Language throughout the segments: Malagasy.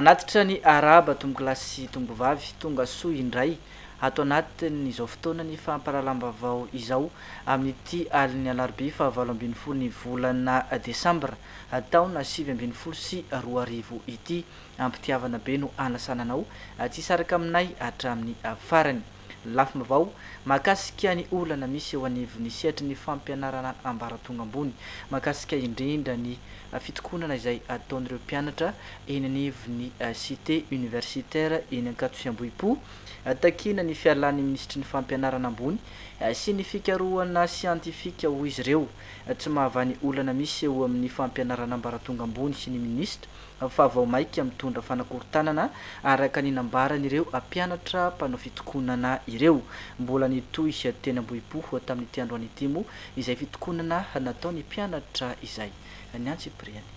Manatitra ny arahaba tompokolahy sy tompokovavy tonga soa indray ato anatin' izao fotoana ny fampahalalam-baovao izao amin' ity alin'ny alarobia fahavalo ambin'ny folo ny volana desambra taona sivy ambin'ny folo sy roa arivo ity. Am-pitiavana be no anasana anao tsy hisaraka aminay hatramin'ny farany. Lafim-baovao mahakasika ny olana misy eo anivon'ny sehatry ny fampianarana ambaratonga ambony, mahakasika indrindra ny fitokonana izay ataon'ireo mpianatra eny anivon'ny Cité universitaire eny Ankatosiambohipo, takiana ny fialan'ny minisitry ny Fampianarana ambony sy ny fikarohana siantifika, hoy izy ireo. Tsy mahavaha ny olana misy eo amin'ny fampianarana ambaratonga ambony ny minisitra fa vao maika mitondra fanakorontanana, araka ny nambaran'ireo mpianatra mpanao fitokonana ireo. Mbola nitohy teny Ambohipo tamin'ity androany ity moa izay fitokonana nataon'ny mpianatra izay. Ny antsipiriany.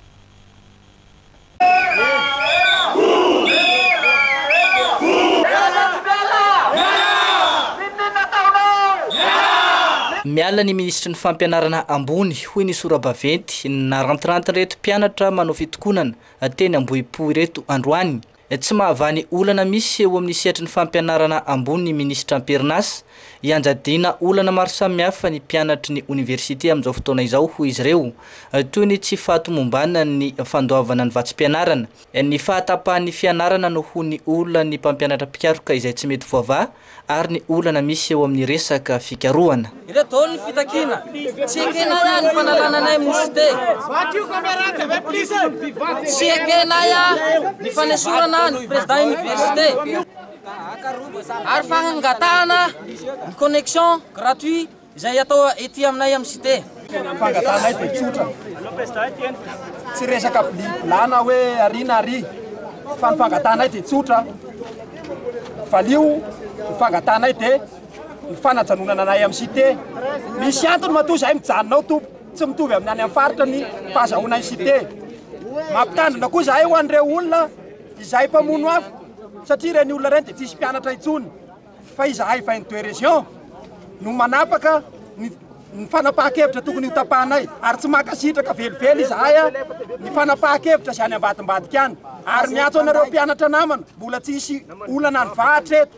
Miala ny minisitry ny Fampianarana ambony, hoy ny sora-baventy narantirantin'ireto mpianatra manao fitokonana teny Ambohipo ireto androany. Tsy mahavaha ny olana misy eo amin'ny sehatry ny fampianarana ambony ny minisitra am-perinasa. Ianjadiana olana maro samihafa ny mpianatry ny oniversite amin'izao fotoana izao, hoy izy ireo, toy ny tsy fahatomomban ny fandoavana ny vatsim-pianarana. Ny fahatapahan'ny fianarana no ho ny olan'ny mpampianatra mpikaroka izay tsy mety voavaha ary ny olana misy eo amin'ny resaka fikarohana. Ireo daholo ny fitakiana. Tsy ekenay ahy ny fanalana anay mouchete. Tsy ekenay ahy ny fanesorana ahy ny président université ary fangatahana ny connexion gratuit Izay atao ety aminay amin'ny Cité. Fangatanay dia tsotra. Tsy resaka bliblà na hoe ary na ary fa ny fangatanay dia tsotra. Valio ny fangatanay dia ny fanajanonana anay amin'ny Cité. Misy antony matoa izahay mijanona ao tompoko. Tsy mitovy amin'ny any amin'ny faritra ny fahazahoanay ny Cité. Mampitandrina koa izahay ho an'ireo olona izay mpamono afo satria ireny olona ireny dia tsisy mpianatra intsony. Fa izahay vingt deux régions no manapaka ny fanapahan-kevitra tokony ho tapahanay ary tsy mankasitraka velively izahay ny fanapahan-kevitra izay any ambadimbadika any. Ary miantso anareo mpianatra namana, mbola tsy hisy olana any Vahatra eto.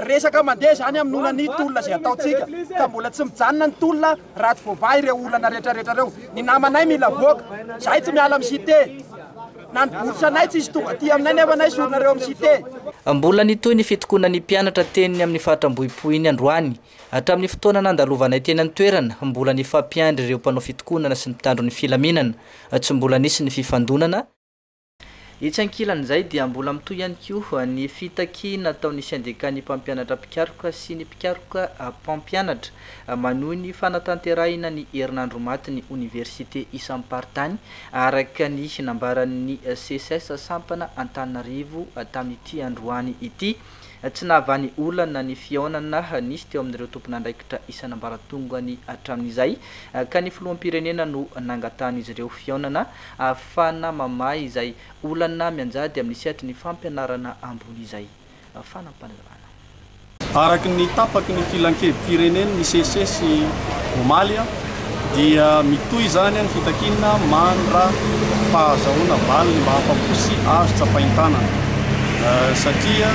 Resaka mandeha izany amin'ny olan'ny tolona izay ataontsika ka mbola tsy mijanona ny tolona. Raha tsy voavaha ireo olana rehetra rehetra ireo, ny namanay mila avoaka. Izahay tsy miala amin'ny Cité. Na ny bourse anay tsy hisy tonga aty aminay nefa anay sorona ireo amin'ny Cité. Mbola nitohy ny fitokonan'ny mpianatra teny amin'ny faritra Ambohipo iny androany. Hatramin'ny fotoana nandalovanay teny an-toerana, mbola nifampiandry ireo mpanao fitokonana sy ny mpitandro ny filaminana. Tsy mbola nisy ny fifandonana. Etsy ankilan'izay dia mbola mitohy ihany koa ny fitaky nataon'ny sendekan'ny mpampianatra mpikaroka sy ny mpikaroka mpampianatra manohy ny fanatanterahina ny herinandro matin'ny oniversite isam-paritany araka ny nambaran'ny Seces sampana Antananarivo tamin'ity androany ity. Tsy nahavany olana ny fihaonana nisy teo amin'ireo tompon'andraikitra isan'ambaratongany hatramin'izay ka ny filoham-pirenena no nangatahan'izy ireo fihaonana ahafahana mamaha izay olana mianjady amin'ny sehatry ny fampianarana ambony izay fanampahana. Araka ny tapaky ny Filankevim-pirenen'ny Seces omaly, dia mitohy izany ny fitakiana mandra pahazahoana valiny mba afa-po sy azo tsapain-tanana satria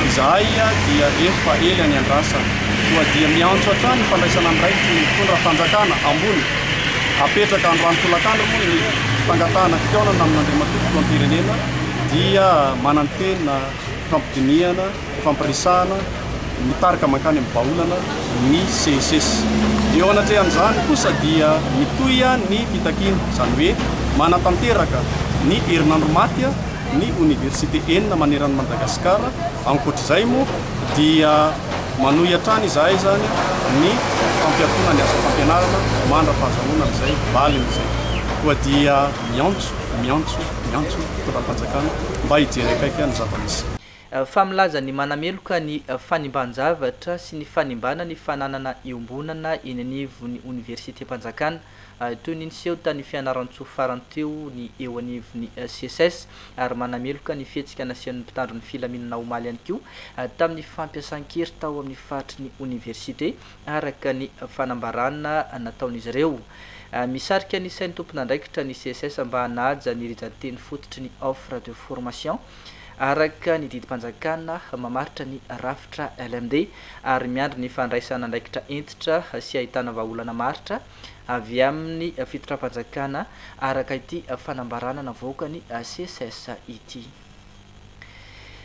izahay dia efa ela niandrasana koa dia miantso hatrany ny fandraisana andraikitry ny mpitondra fanjakana ambony apetraka androany tolakandro moa ny fangatahana fikaonana amin'Andriamatoa Filoham-pirenena dia manantena hampidinihana fampiresahana ny tarika mankany amin'ny vahaolana ny CSS. Eo anatrehan'izany kosa dia mitohy ny fitakiana, izany hoe manatanteraka ny herinandro maty ny oniversite enina maneran'i Madagasikara. Ankoatr'izay moa dia manohy hatrany izahay izany ny fampiatoana ny asa fampianarana mandra-pahazahoana an'izay valiny izay. Koa dia miantso, miantso, miantso ny fitondram-panjakana mba hijery akaiky ny zava-misy. Fa milaza ny manameloka ny fanimban-javatra sy ny fanimbana ny fananana iombonana eny anivon'ny Oniversitem-panjakana, toy ny niseho tany Fianarantsoa farany teo, ny eo anivon'ny Seces, ary manameloka ny fihetsika nasehon'ny mpitandro ny filaminana omaly ihany koa tamin'ny fampiasan-kery tao amin'ny faritry ny Oniversite, araka ny fanambarana nataon'izy ireo. Misarika ny sain'ny tompon'andraikitra ny Seces mba hanaja ny rijan-teny fototry ny offre de formation. araka ny didim-panjakana mamaritra ny rafitra LMD ary miandry ny fandraisana andraikitra hentitra sy ahitana vahaolana maharitra avy amin'ny fitondram-panjakana araka ity fanambarana navoaka ny SECES ity.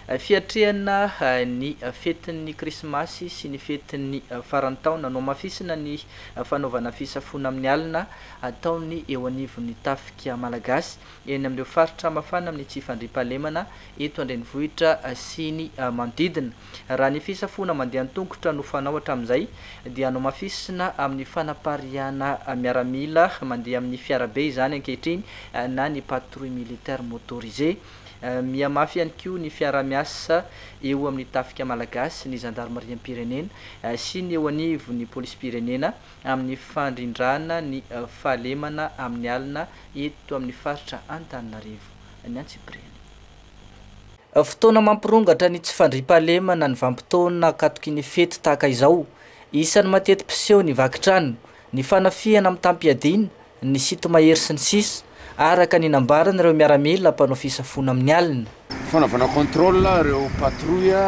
Fiatrehana ny fetin'ny Krismasy sy ny fetin'ny faran'ny taona, nohamafisina ny fanaovana fisafoana amin'ny alina ataon'ny eo anivon'ny Tafika Malagasy. eny amin'ireo faritra mafana amin'ny tsy fandriampahalemana eto an-drenivohitra sy ny manodidina. Raha ny fisafoana mandeha an-tongotra no fanao hatramin'izay dia nomafisina amin'ny fanapariahana miaramila mandeha amin'ny fiarabe izany ankehitriny na ny patrouille militaire motorisé. Mihamafy ihany koa ny fiaraha-miasa eo amin'ny tafika malagasy, ny zandarimariam-pirenena sy ny eo anivon'ny polisim-pirenena. amin'ny fandrindrana ny fahalemana amin'ny alina eto amin'ny faritra Antananarivo ny antsipiriany. Fotoana mampirongatra ny tsy fandriam-pahalemana ny vanim-potoana an-katokin'ny fety tahaka izao. Isan'ny mateti-piseho ny vaky trano, ny fanafihana mitam-piadiana, ny site mahery sy ny sisa araka ny nambaran'ireo miaramila mpanao fisafoana amin'ny alina. Fanaovana contrôle ireo patrouille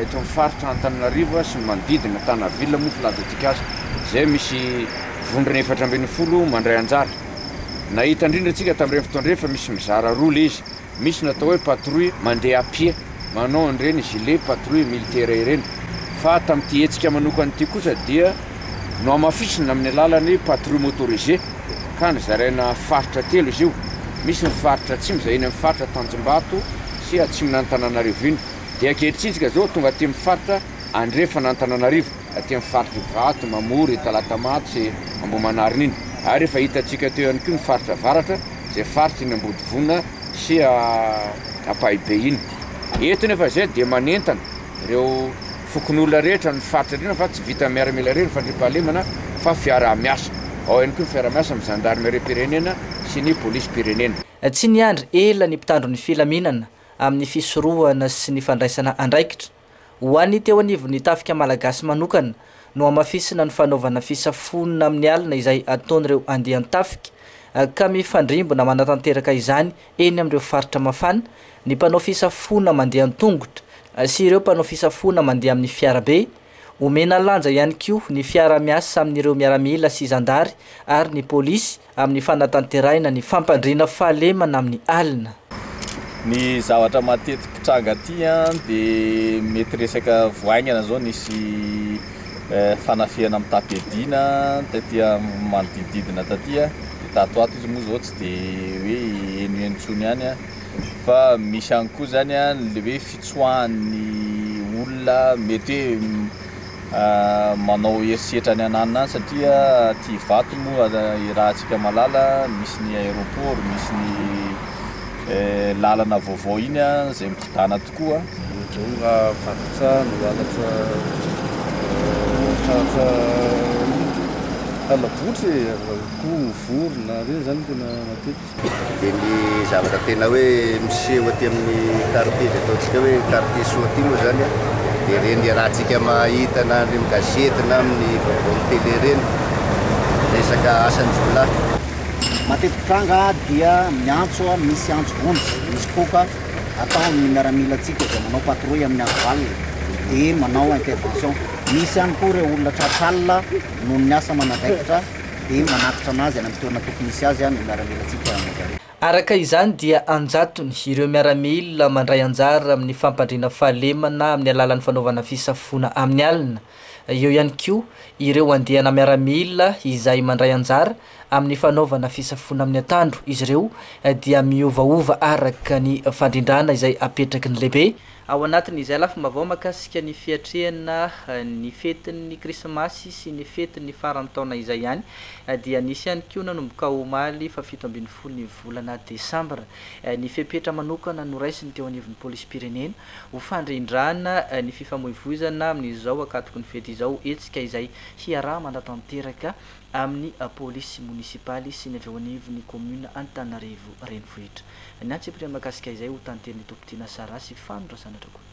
eto amin'ny faritra Antananarivo sy ny manodidina, Tana ville moa filaza-tsika azy, izay misy vondrona efatra ambin'ny folo mandray anjara. Nahita indrindra tsika tamin'ireny fotoana ireny fa misy mizara roa ilay izy. Misy ny atao hoe patrouille mandeha à pied, manao an'ireny gilet patrouille militaire ireny. Fa tamin'ity hetsika manokana ity kosa dia nohamafisina amin'ny alalan'ny patrouille motorisé ka nozaraina faritra telo izy io. Misy ny faritra atsimo izay eny amin'ny faritra Tanjombato sy atsimon'Antananarivo iny. Dia ankehitriny isika izao tonga aty amin'ny faritra andrefan'Antananarivo, aty amin'ny faritr'i Ivato, Mamory, Talatamatsy, Ambohimanarina iny. Ary efa hitantsika teo ihany koa ny faritra avaratra. izay faritry ny Ambodivona sy Ampahibe iny. Eto nefa izay dia manentana ireo fokonolona rehetra ny faritra indrindra fa tsy vitan'ny miaramila irery ny fandriampahalemana fa fiaraha-miasa. Ao ihany koa ny fiaraha-miasa amin'ny zandarimeriam-pirenena sy ny polisim-pirenena. Tsy niandry ela ny mpitandro ny filaminana amin'ny fisorohana sy ny fandraisana andraikitra Ho an'ny teo anivon'ny Tafika Malagasy manokana, nohamafisina ny fanaovana fisafoana amin'ny alina izay ataon'ireo andian-tafika, ka mifandrimbona manatanteraka izany eny amin'ireo faritra mafana, ny mpanao fisafoana mandeha an-tongotra sy ireo mpanao fisafoana mandeha amin'ny fiarabe. Omena lanja ihany koa ny fiara-miasa amin'ireo miaramila sy zandary ary ny polisy, Amin'ny fanatanterahina ny fampandriana fahalemana amin'ny alina. Ny zavatra matetiky mpitranga aty an dia mety resaka vao haingana zao nisy fanafihana mitam-piadiana taty amin'ny manodidididina taty an, dia tato ato izy moa zao tsy dia hoe henoheno tsony ihany an, fa misy ihany koa zany an le hoe fitsoahan'ny olona mety hoe manao herisetra any ananona any satria aty Ivato moa irahantsika malala misy ny aéroport, misy ny lalana vaovao iny izay mikodana tokoa. Ohatr'izao ny raha vaky trano, halatra tratra hala-botry e, akoho, vorona, ireny izany no tena matetika. dia ny zavatra tena hoe miseho aty amin'ny quartier izay ataontsika hoe quartier soa aty moa izany an, dia ireny iarahantsika mahita na any amin'ny gazety na amin'ny vaovao amin'ny tele ireny resaka asan-jiolahy. Mateti-pitranga aho dia miantso an, misy antso vonjy, misy koka atao ny miaramilantsika izay manao patrouille amin'ny andro alina dia manao intervention. Misy ihany koa ireo olona tratran'alina noho ny asa manandraikitra. dia manatitra anazy any amin'ny toerana tokony hisy azy ny miaramilantsika mandray. Araka izany dia an-jatony ireo miaramila mandray anjara amin'ny fampandriana fahalemana amin'ny alalan'ny fanaovana fisafoana amin'ny alina. Eo ihany koa ireo andiana miaramila izay mandray anjara amin'ny fanaovana fisafoana amin'ny atandro, izy ireo dia miovaova araka ny fandrindrana izay apetraky ny lehibe Ao anatin'izay lafim-baovao mahakasika ny fiatrehana ny fetin'ny Krismasy sy ny fetin'ny faran'ny taona izay ihany dia nisy ihany koa nanomboka omaly fahafito ambin'ny folo ny volana desambra ny fepetra manokana noraisiny teo anivon'ny polisim-pirenena ho fandrindrana ny fifamoivoizana amin'izao ankatoky ny fety izao, hetsika izay hiaraha-manatanteraka amin'ny polisy monisipaly sy ny avy eo anivon'ny kaominina Antananarivo Renivohitra. Ny antsipiriany mahakasika izay ho tanterin'i Tompotena Sarah sy Fano Razanadrakoto.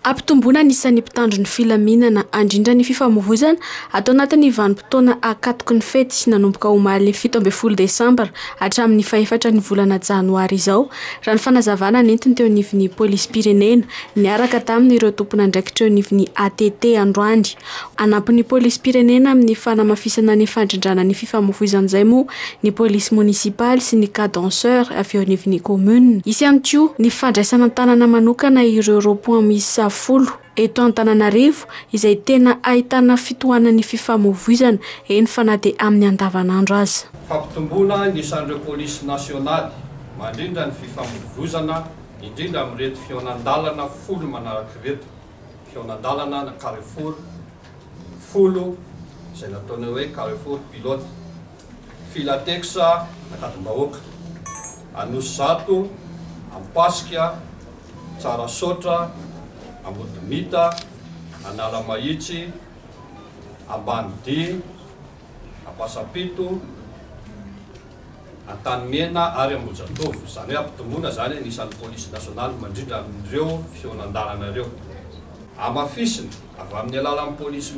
Hampitomboana ny isan'ny mpitandro ny filaminana handrindra ny fifamohozana atao anatin'ny vanim-potoana ankatoky ny fety nanomboka omaly fito ambin'ny folo desambra hatramin'ny fahefatra ny volana janoary izao raha ny fanazavana nentiny teo anivon'ny polisim-pirenena niaraka tamin'ireo tompon'andraikitra eo anivon'ny ATT androany. Hanampy ny polisim-pirenena amin'ny fanamafisana ny fandrindrana ny fifamoivoizana izay moa ny polisy monisipaly sy ny cadenceurs avy eo anivon'ny kaominina. Hisy ihany koa ny fandraisana an-tanana manokana ireo rond-point miisa folo eto Antananarivo izay tena ahitana fitohanan'ny fifamoivoizana, eny fa na dia amin'ny andavanandro aza. Fampitomboana ny isan'ireo polisy nasionaly mandrindra ny fifamoivoizana, indrindra amin'ireto fihaonan-dalana folo manaraka ireto. fihaonan-dalana na carrefour folo izay nataonay hoe carrefour pilote, Filatex Ankadimbahoaka, Anosizato, Ampasika, Tsarasaotra, Ambodimita, Analamahitsy, Ambanidia, Ampasapeto, Antanimena ary Ambohijatovo, izany hoe ampitombona izany ny isan'ny polisy nasionaly mandrindra amin'ireo fihonan-dalana ireo. Hamafisina, avy amin'ny alalan'ny polisy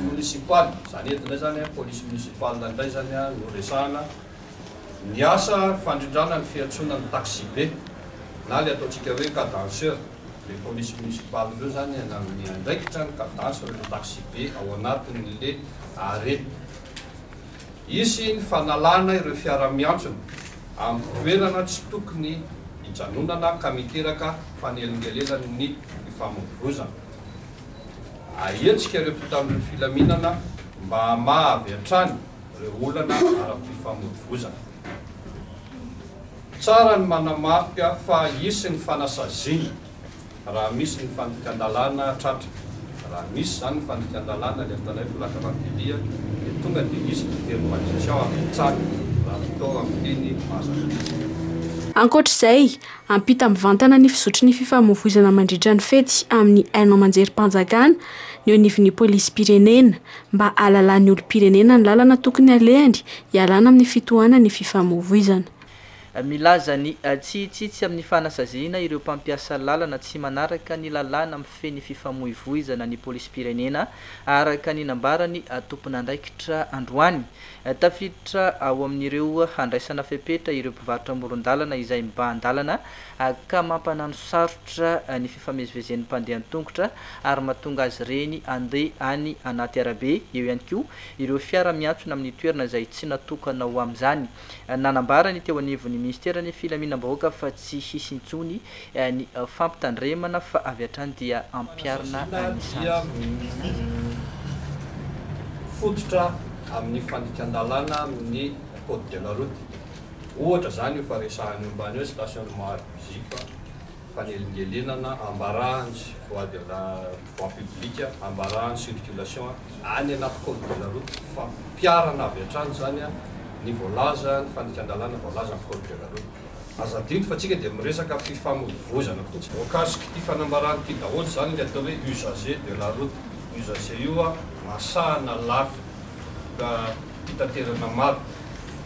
monisipaly, izany eto indray izany, polisy monisipaly indray izany no resahana, Ny asa fandrindrana ny fiantsoana ny taxi-be na ilay ataontsika hoe cadenceur, ilay polisy monisipaly ireo izany nanome andraikitra ny cadence ireo taxi-be ao anatin'ilay arrêt. Hisy ny fanalana ireo fiara miantsona amin'ny toerana tsy tokony hijanonana ka miteraka fanelingelenan'ny fifamoivoizana. Ahetsika ireo mpitandro ny filaminana mba hamaha avy hatrany. ireo olana ara-pifamoivozana. Tsara ny manamarika fa hisy ny fanasaziana raha misy ny fandikan-dalàna tratra. Raha misy izany ny fandikan-dalàna, ilay ataonay plaque rapide, dia tonga dia hisy ny teny Makichao avy hatrany raha ny tao amin'ny teny Mazandrasa. Ankoatra izay, hampita mivantana ny fizotry ny fifamoivoizana mandritra ny fety amin'ny haino aman-jerim-panjakana ny eo anivon'ny polisim-pirenena. mba hahalalan'ny olom-pirenena ny lalana tokony halehany hialana amin'ny fitohanan'ny fifamoivoizana. Milaza ny tsihitsitsy amin'ny fanasaziana ireo mpampiasa lalana tsy manaraka ny lalàna mifehy ny fifamoivoizana ny polisim-pirenena, araka ny nambaran'ny tompon'andraikitra androany. Tafiditra ao amin'ireo handraisana fepetra ireo mpivarotra amoron-dalana izay mibahan-dalana HK mampanano sarotra ny fifamezivezen'ny mpandeha an-tongotra ary mahatonga azy ireny handeha any anaty arabe, eo ihany koa ireo fiara miantsona amin'ny toerana izay tsy natokana ho amin'izany. Nanambara ny teo anivon'ny minisiteran'ny filaminam-bahoaka fa tsy hisy intsony ny fampitandremana fa avy hatrany dia hampiharina ny sazy. Ohatra zany io fa resahany io mbany hoe stationnement abusif, fanelingelenana, ambarahany voie de la voie public, ambarahany circulation any anaty code de la route, fampiharana avy hatrany zany ny voalaza, ny fandikan-dalàna voalaza am code de la route. Aza adino fa tsika dia miresaka fifamoivoizana fotsiny. Voakasiky ity fanambarana ity daholo zany le atao hoe usager de la route, usager io masahana lafy ka. fitaterana maro,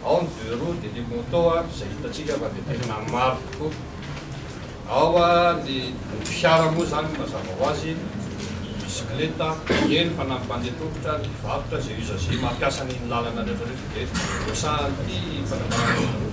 ao ny deux roues dia le moto izay hitantsika fa dia tena maro tokoa, ao ny fiara moa izany mazava ho azy, ny bisikileta, eny fa na ny mpandeha tongotra, ny mpivarotra, izay usager mampiasa an'iny lalana rehetra iny dia hosahan'ity fanambarana ity.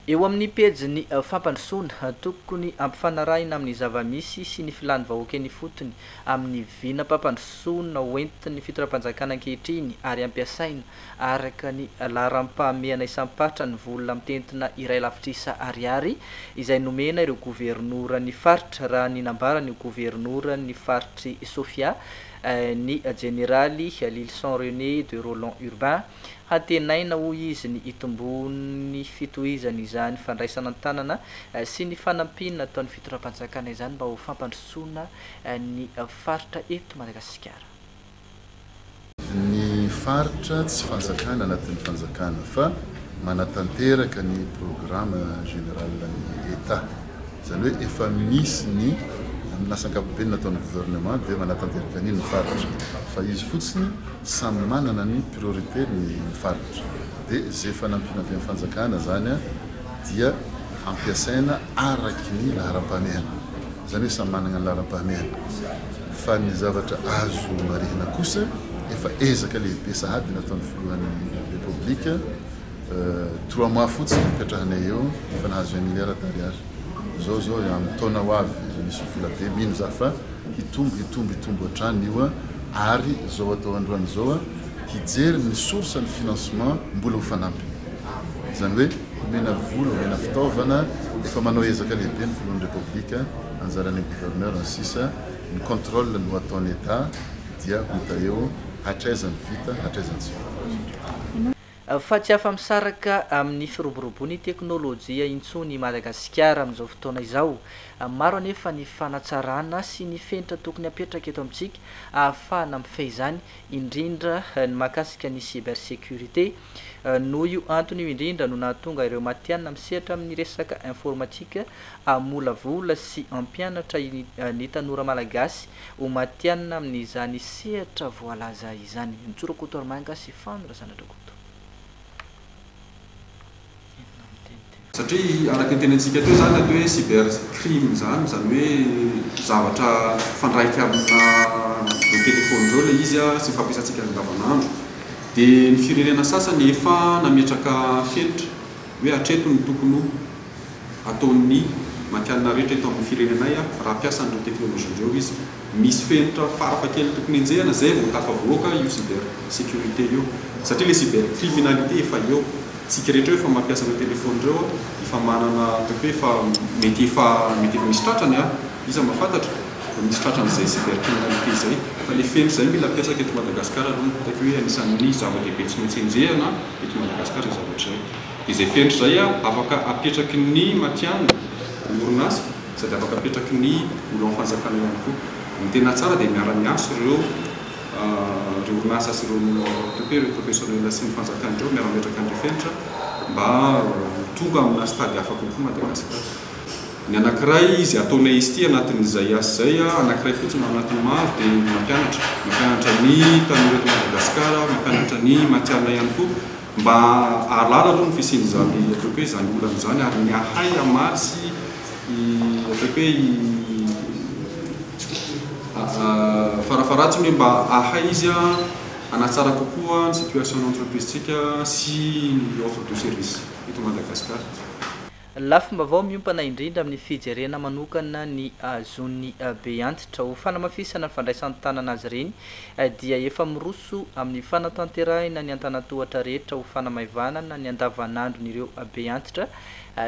Eo amin'ny pejin'ny fampandrosoana, tokony ampifanarahina amin'ny zava-misy sy ny filan'ny vahoaka eny ifotony, amin'ny vinam-pampandrosoana hoentin'ny fitondram-panjakana ankehitriny ary ampiasaina araka ny laharam-pahamehana isam-paritra ny vola mitentina iray lavitrisa ariary izay nomena ireo governoran'ny faritra, raha ny nambaran'io governoran'ny faritr'i Sofia, ny jeneraly Lylison René de Rolland Urbain. Hantenaina, hoy izy, ny hitomboan'ny fitohizany izany fandraisana an-tanana sy ny fanampiana ataon'ny fitondram-panjakana izany mba ho fampandrosoana ny faritra eto Madagasikara. Ny faritra tsy fanjakana anatin'ny fanjakana fa manatanteraka ny programme général-n'ny Etat. Izany hoe efa misy ny amin'ny lasa ankapobeny nataon'ny gouvernement dia manatanteraka an'iny ny faritra fa izy fotsiny. Samy manana ny priorité ny faritra dia izay efa nampiana avy amin'ny fanjakana izany dia hampiasaina araky ny laharam-pahamehana, izany hoe samy manana ny laharam-pahamehana fa ny zavatra azo marihina kosa efa ezaka lehibe sahady nataon'ny filohan'ny Repoblika trois mois fotsiny nipetrahanay eo efa nahazo un milliard d'ariary, izao izao amin'ny taona ho avy misy vola be mino za fa Hitombo hitombo hitombo hatrany io a! Ary zao atao androany zao a! Hijery ny source ny financement mbola ho fanampiny. Izany hoe omena vola, omena fitaovana, efa manao ezaka lehibe ny filohan'ny Repoblika, anjaran'ny gouverneur ny sisa, ny controle no ataon'ny Etat dia ho ita eo hatraiza ny vita hatraiza ny tsy vita. Fa tsy afa-misaraka amin'ny firoborobon'ny teknolojia intsony i Madagasikara amin'izao fotoana izao. Maro anefa ny fanatsarana sy ny fenitra tokony hapetraka eto amintsika ahafahana mifehy izany, indrindra ny mahakasika ny cybersécurité. Noho io antony io indrindra no nahatonga ireo matihanina misehatra amin'ny resaka informatika hamolavola sy hampianatra ny tanora malagasy Ho matihanina amin'izany sehatra voalaza izany. Nitsora Koto ary Manga sy Fano Razanadrakoto. Inona ny teny teo? Satria araka ny tenenintsika teo izany ilay hoe cyber crime izany, izany hoe zavatra mifandraika amina ireo telefaony ireo ilay izy sy ny fampiasantsika azy andavanandro. Dia ny firenena sasany efa nametraka fenitra hoe hatreto no tokony ho. ataon'ny Makianina rehetra eto amin'ny firenenay raha mpiasa an'ireo teknolojia ireo izy. Misy fenitra farafahakeliny tokony enjehina izay vao tafavoaka io cyber sécurité io satria ilay cyber criminalité efa eo. Isika rehetra eo efa mampiasa ireo telefaonina ireo efa manana ataoko hoe efa mety efa mety efa misy tratrany an! Iza mahafantatra? Efa misy tratran'izay cyber criminalité izay fa ilay fenitra izay no mila ampiasaiko eto Madagasikara aloha no hitako hoe anisan'ny zava-dehibe tsy maintsy enjehina eto Madagasikara izay zavatra izay. Izay fenitra izay afaka apetraky ny matihanina ny orinasa sady afaka apetraky ny olon fanjakana ihany koa. Ny tena tsara dia miara miasa ireo ireo orinasa sy ireo tonte ireo professionnel sy ny fanjakana ireo miara mametraka an'ireo fenitra mba ho tonga amina stade hafa kokoa Madagasikara. Ny anakiray izy ataonay izy ity anatin'izay asa izay anakiray fotsiny ao anatin'ny maro dia ny mampianatra. Mampianatra ny tanora eto Madagasikara, mampianatra ny matihanina ihany koa. Mba hahalala aloha ny fisian'izany ataoko hoe izany olana izany ary ny hahay hamaly sy ataoko hoe farafaharatsiny hoe mba hahay izy hanatsara kokoa ny situation-ny entreprise-tsika sy ny offre de service eto Madagascar. Lafim-baovao miompana indrindra amin'ny fijerena manokana ny zony be antitra ho fanamafisana ny fandraisan-tanana azy ireny dia efa miroso amin'ny fanatanterahina ny antanatohatra rehetra ho fanamaivanana ny andavanandron'ireo be antitra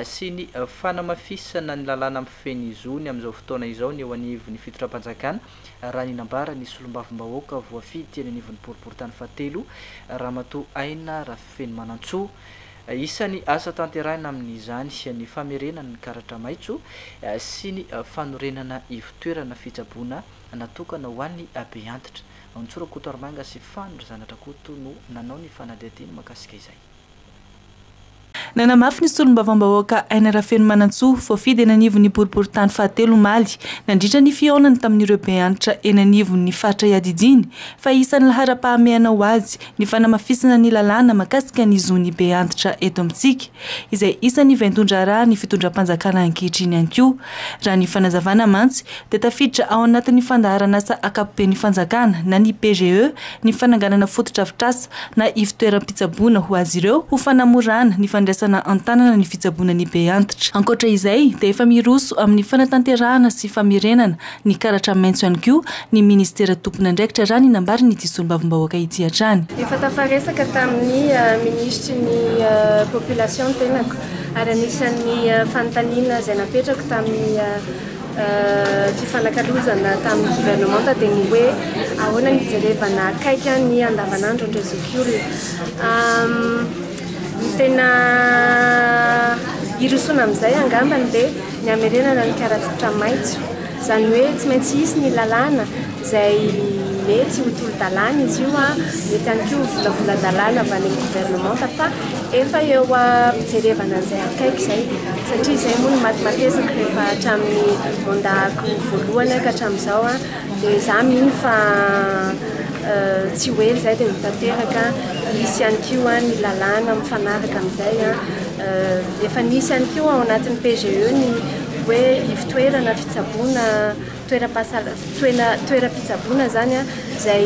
sy ny fanamafisana ny lalàna mifehy ny zony amin'izao fotoana izao ny eo anivon'ny fitondram-panjakana raha ny nambaran'ny solombavambahoaka voafidy teny anivon'ny boriboritany fahatelo ramatoa Aina Rafenomanantsoa Isan'ny asa tanterahina amin'izany ny famerenana ny karatra maitso sy ny fanorenana ivon-toerana fitsaboana natokana ho an'ny beantitra. Ntsoro Rakotoarimanga sy Fano Razanadrakoto no nanao ny fanadihadiana mahakasika izay. Nanamafy ny solombavambahoaka Aina Rafenomanantsoa, voafidy eny anivon'ny boriborintany fahatelo omaly, nandritra ny fihaonany tamin'ireo beantitra eny anivon'ny faritra iadidiany, fa isan'ny laharam-pahamehana ho azy ny fanamafisana ny lalàna mahakasika ny zon'ny be antitra eto amintsika, izay isan'ny vaindohan-draharahan'ny fitondram-panjakana ankehitriny ihany koa. Raha ny fanazavana mantsy dia tafiditra ao anatin'ny fandaharan'asa ankapoben'ny fanjakana na ny PGE ny fananganana fotodrafitrasa na ivontoeram-pitsaboana ho azy ireo ho fanamorana ny fandraisana an-tanana ny fitsaboana ny be antitra. Ankoatra izay dia efa miroso amin'ny fanatanterahana sy famerenana Nikaratra maitso ihany koa ny minisitera tompon'andraikitra raha ny nambarin'ity solombavambahoaka ity hatrany. Efa tafaresaka tamin'ny minisitry ny Population ny tenako ary anisan'ny fanontaniana izay napetrako tamin'ny fifanakalozana tamin'ny governemanta dia ny hoe ahoana ny hijerevana akaiky ny andavanandron'ireo zokiolona. Tena hirosoana amin'izay angamba ny hoe ny hamerenana ny karatotra maitso. Izany hoe tsy maintsy hisy ny lalàna izay mety ho tolo-dalàna izy io, mety ihany koa ho volavolan-dalàna avy any amin'ny governemanta fa efa eo am-pijerevana an'izay akaiky izay satria izay moa no matimatesako rehefa hatramin'ny mandat-ko voalohany ka hatramin'izao. Dia za mino fa tsy ho ela izay dia ho tanteraka, hisy ihany koa ny lalàna mifanaraka amin'izay. Efa nisy ihany koa ao anatin'ny PGE ny hoe ivotoerana fitsaboana, toeram-pahasalamana, toeram-pitsaboana izany izay.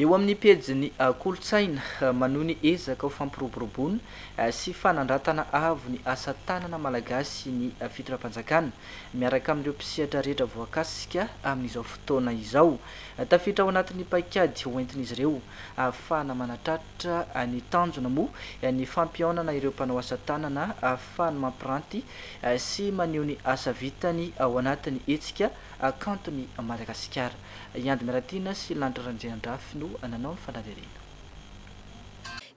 Eo amin'ny pejin'ny kolontsaina, manohy ny ezaka ho fampiroboroboana sy fanandratana avo ny asa tanana malagasy ny fitondram-panjakana, miaraka amin'ireo mpisehatra rehetra voakasika amin'izao fotoana izao. Tafiditra ao anatin'ny paikady hoentin'izy ireo ahafahana manatratra ny tanjona moa ny fampihaonana ireo mpanao asa tanana ahafahany mampiranty sy maneho ny asa vitany ao anatin'ny hetsika kanton'i Madagasikara. I Andy Miratiana sy Lanto Randriandrafy no nanao ny fanadihadiana.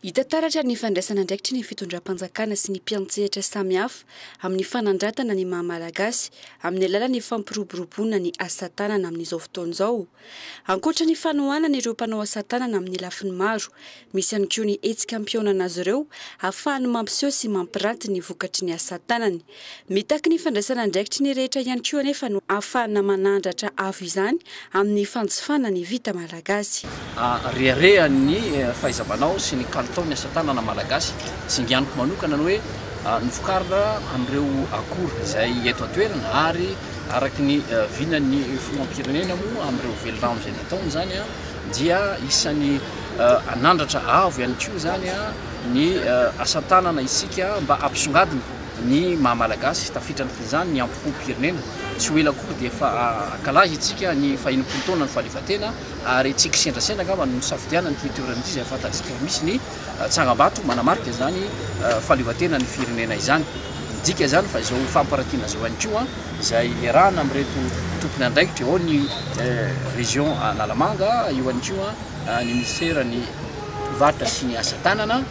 Hita taratra ny fandraisan'andraikitry ny fitondram-panjakana sy ny mpiantsehatra samihafa amin'ny fanandratana ny maha Malagasy amin'ny alalan'ny fampiroboroboana ny asa tanana amin'izao fotoana izao. Ankoatra ny fanohanana ireo mpanao asa tanana amin'ny lafiny maro Misy ihany koa ny hetsika ampihaonana azy ireo hahafahany mampiseho sy mampiranty ny vokatry ny asa tanany. Mitaky ny fandraisana andraikitry ny rehetra ihany koa anefa no hahafahana manandratra avo izany amin'ny fanjifana ny vita malagasy. Reharehan'ny fahaiza-manao sy ny kalitaon'ny asa tanana malagasy. Singaniko manokana ny hoe novokarina amin'ireo akora izay eto an-toerana ary araka ny vinan'ny filoham-pirenena moa amin'ireo velirano izay nataony izany. dia isan'ny hanandratra avo ihany koa izany ny asa tanana isika mba hampisongadina ny maha malagasy, tafiditra anatin'izany ny ampokom-pirenena, tsy ho ela koa dia efa hankalaza isika ny faha enimpolo taonan'ny fahaleovantena ary tsy kisendrasendra angamba no nisafidianana ity toerana ity izay fantatsika fa misy ny Tsangambato manamarika izany fahaleovantena ny firenena izany. Midika izany fa izao fampiratiana izao ihany koa izay iarahana amin'ireto tompon' andraikitra ao ny Région Analamanga, eo ihany koa ny Minisiteran' ny Mpivarotra sy ny Asa Tanana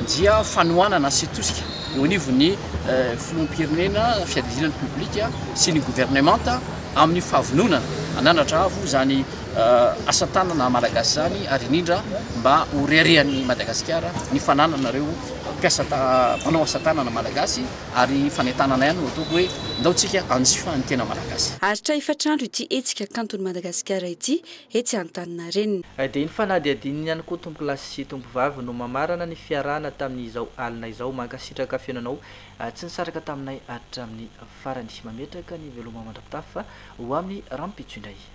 dia fanohanana sy tosika eo anivon' ny Filoham-pirenena, Fiadidiana ny Repoblika sy ny Governemanta amin'ny fahavononana hananatra avo izany asa tanana malagasy izany ary indrindra mba ho reharehan'ny Madagasikara ny fananana ireo mpiasa manao asa tanana malagasy ary fanentanana ihany no ataoko hoe ndao tsika hanjifa ny tena malagasy. Aritra efatra andro ity hetsika kanton'i Madagasikara ity etsy Antaninarenina. Dia iny fanadihadiana iny ihany koa tompolahy sy tompovavy no mamarana ny fiarahana tamin'izao alina izao. Mankasitraka fihaonanao tsy nisaraka taminay hatramin'ny farany. Mametraka ny veloma mandra-pitafa ho amin'ny rahampitso indray.